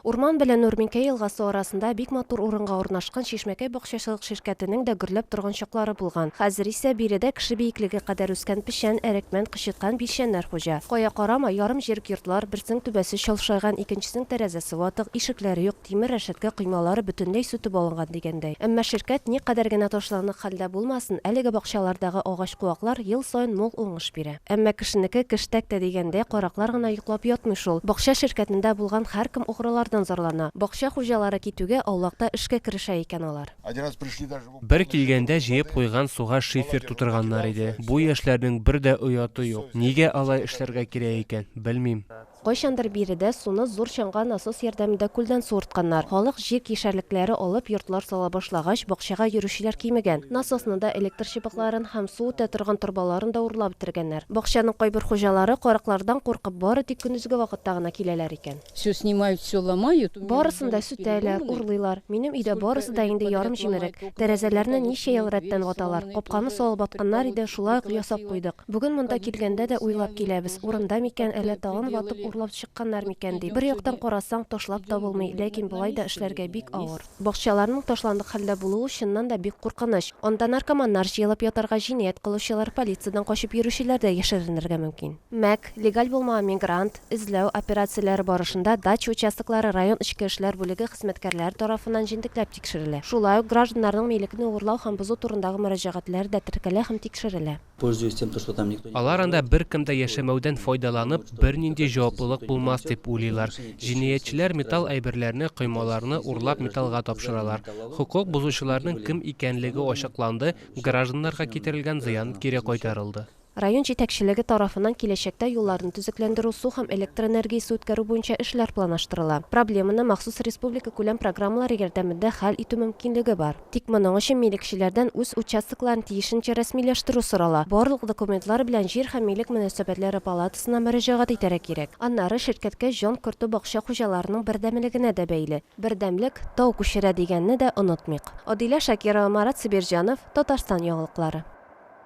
Урман белән Нурминкәй елгасы арасында бик матур урынга урнашкан Чишмәкәй бакчачылык ширкәтенең дә гөрләп торган чаклары булган. Хәзер исә биредә кеше биеклеге кадәр үскән печән, әрекмән, кычыткан билчәннәр хуҗа. Кая карама, ярым җирек йортлар, берсенең түбәсе чалшайган, икенчесенең тәрәзәсе ватык, ишекләре юк, тимер рәшәткә коймалары бөтенләй сүтеп алынган дигәндәй. Әмма ширкәт никадәр генә ташландык хәлдә булмасын, әлеге бакчалардагы агач-куаклар ел саен мул уңыш бирә. Әмма кешенеке кеш тәктә дигәндәй, караклар гына йоклап ятмый шул. Бакча ширкәтендә булган һәркем угрылардан зарлана. Бакча хуҗалары китүгә, аулакта эшкә керешә икән алар. Бер килгәндә җыеп куйган суга шифер тутырганнар иде. Бу яшьләрнең бер дә ояты юк. Нигә алай эшләргә кирәк икән, белмим. Кайчандыр биредә суны зур чанга насос ярдәмендә күлдән суыртканнар. Халык җир кишәрлекләре алып, йортлар сала башлагач, бакчага йөрүчеләр кимегән. Насосны да, электр чыбыкларын һәм су үтә торган торбаларын да урлап бетергәннәр. Бакчаның кайбер хуҗалары, караклардан куркып, бары тик көндезге вакытта гына киләләр икән. Всё снимают, всё ломают. Барысын да сүтәләр, урлыйлар. Минем өйдә барысы да инде ярым җимерек. Тәрәзәләрне ничә ел рәттән ваталар. Капканы салып атканнар иде, шулай ук ясап куйдык. Бүген монда килгәндә дә уйлап киләбез, урында микән, әллә тагын ватып, урлап чыкканнар микән, дип. Бер яктан карасаң, ташлап та булмый, ләкин болай да эшләргә бик авыр. Бакчаларның ташландык хәлдә булуы чыннан да бик куркыныч. Анда наркоманнар җыелып ятарга, җинаять кылучылар, полициядән качып йөрүчеләр дә яшеренергә мөмкин. Мәк, легаль булмаган мигрант, эзләү операцияләре барышында дача участоклары район эчке эшләр бүлеге хезмәткәрләре тарафыннан җентекләп тикшерелә. Шулай ук гражданнарның милекне урлау һәм бозу турындагы мөрәҗәгатьләре дә теркәлә һәм тикшерелә. Пользуясь тем, то что там никто не. Алар анда беркем дә яшәмәүдән файдаланып, бернинди җаваплылык булмас дип уйлыйлар. Җинаятьчеләр металл әйберләрне, коймаларны урлап металлга тапшыралар. Хокук бозучыларның кем икәнлеге ачыкланды, гражданнарга китерелгән зыян кире кайтарылды. Район җитәкчелеге тарафыннан киләчәктә юлларны төзекләндерү, су һәм электроэнергиясе үткәрү буенча эшләр планаштырыла. Проблеманы махсус республикакүләм программалар ярдәмендә хәл итү мөмкинлеге бар. Тик моның өчен милекчеләрдән үз участокларын тиешенчә рәсмиләштерү сорала. Барлык документлар белән Җир һәм милек мөнәсәбәтләре палатасына мөрәҗәгать итәргә кирәк. Аннары ширкәткә җан кертү бакча хуҗаларының бердәмлегенә дә бәйле. Бердәмлек тау күчерә дигәнне дә онытмыйк. Адилә Шакирова, Марат Сабирҗанов, Татарстан яңалыклары.